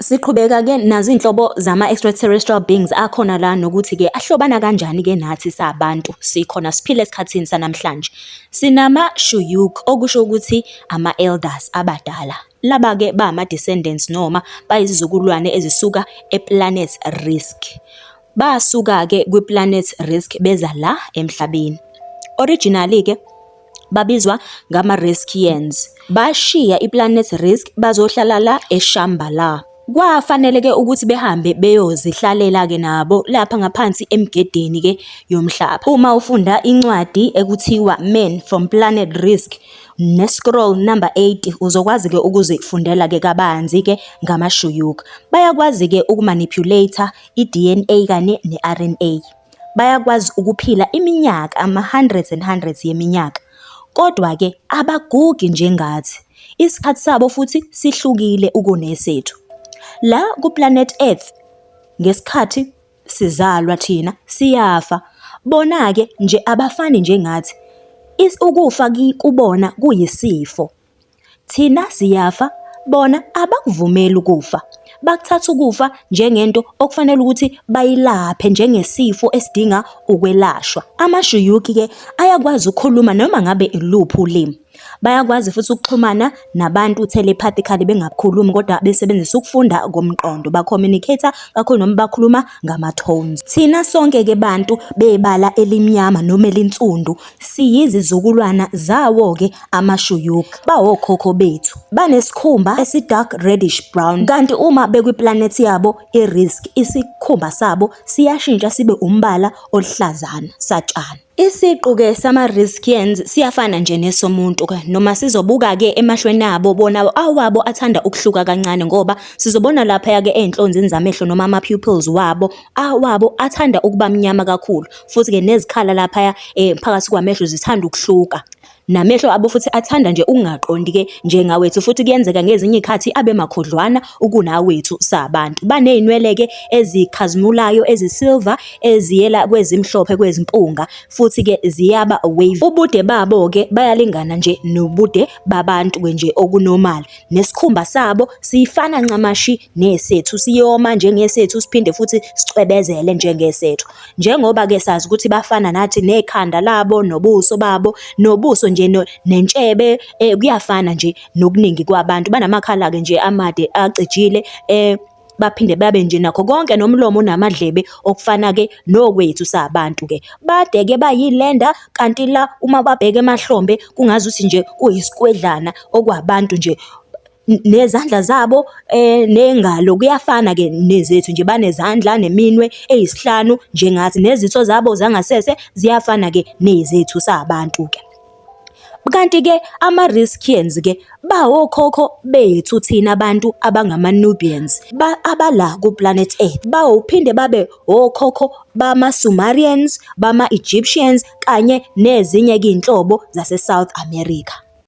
Siqhubeka-ke nazo iy'nhlobo zama-extraterrestrial beings akhona la nokuthi-ke ahlobana kanjani-ke nathi sabantu sikhona siphila esikhathini sanamhlanje. Sinama-Shuyuk okusho ukuthi ama-elders abadala, laba-ke ba ama-descendants noma bayizizukulwane ezisuka e-planet Rizq. Basuka-ke kwi-planet Rizq beza la emhlabeni. Originally-ke. babizwa ngama-Riskians, bashiya iPlanet Risk bazohlala la eShambhala. Kwafanele-ke ukuthi behambe beyozihlalela-ke nabo lapha ngaphansi emigedeni-ke yomhlaba. Uma ufunda incwadi ekuthiwa Men from Planet Risk ne-scroll number 80 uzokwazi-ke ukuzifundela-ke kabanzi-ke ngamaShuyuk. Bayakwazi-ke ukumanipulator i-DNA kanye ne-RNA. bayakwazi ukuphila iminyaka ama-hundreds and hundreds yeminyaka, kodwa-ke abagugi njengathi, isikhathi sabo futhi sihlukile ukunesethu. La ku-planet Earth ngesikhathi sizalwa thina siyafa, bona-ke nje abafani njengathi, ukufa kubona kuyisifo. Thina siyafa bona abakuvumeli ukufa, bakuthatha ukufa njengento okufanele ukuthi bayilaphe njengesifo esidinga ukwelashwa. Amashiyukhi-ke ayakwazi ukukhuluma noma ngabe iluphi ulimi. Bayakwazi futhi ukuxhumana nabantu telepathically bengakhulumi kodwa besebenzisa ukufunda komqondo, ba-communicate-a kakhulu noma bakhuluma ngama-tones. Thina sonke-ke bantu bebala elimnyama noma elinsundu Siyizizukulwana zawo-ke amaShuyuk, bawokhokho bethu. Banesikhumba esi-dark reddish brown, kanti uma bekwiplanethi yabo iRisk, isikhumba sabo siyashintsha sibe umbala oluhlazana satshani. Isiqu-ke sama-Riskians siyafana nje nesomuntu-ke, noma sizobuka-ke emahlweni abo, bona awabo athanda ukuhluka kancane ngoba sizobona laphaya-ke ezinhlonzini zamehlo noma ama-pupils wabo, awabo athanda ukuba mnyama kakhulu futhi-ke nezikhala laphaya um phakathi kwamehlo zithanda ukuhluka namehlo abo futhi athanda nje ukungaqondi-ke njengawethu futhi kuyenzeka ngezinye iy'khathi abe makhudlwana ukunawethu sabantu. Baney'nwele-ke ezikhazimulayo ezisilva eziyela kwezimhlophe kwezimpunga futhi-ke ziyaba wavy. Ubude babo-ke bayalingana nje nobude babantu-ke nje okunomali. Nesikhumba sabo sifana ncamashi nesethu, siyoma njengesethu siphinde futhi sicwebezele njengesethu. Njengoba-ke sazi ukuthi bafana nathi nekhanda labo nobuso babo, nobuso nje nentshebe kuyafana nje nokuningi kwabantu. Banamakhala-ke nje amade acijile . baphinde babe nje nakho konke nomlomo namadlebe okufana ke nokwethu sabantu ke bade ke bayilenda kanti la uma babheke emahlombe kungazi ukuthi nje kuyisikwedlana okwabantu nje nezandla zabo eh nengalo kuyafana ke nezethu nje banezandla neminwe eyisihlanu njengathi nezitho zabo zangasese ziyafana ke nezethu sabantu ke Kanti-ke ama-Riskians ke bawokhokho bethu thina bantu abangama-Nubians abala ku-planet Earth, baphinde babe wokhokho bama-Sumerians, bama-Egyptians kanye nezinye ke iy'nhlobo zase-South America.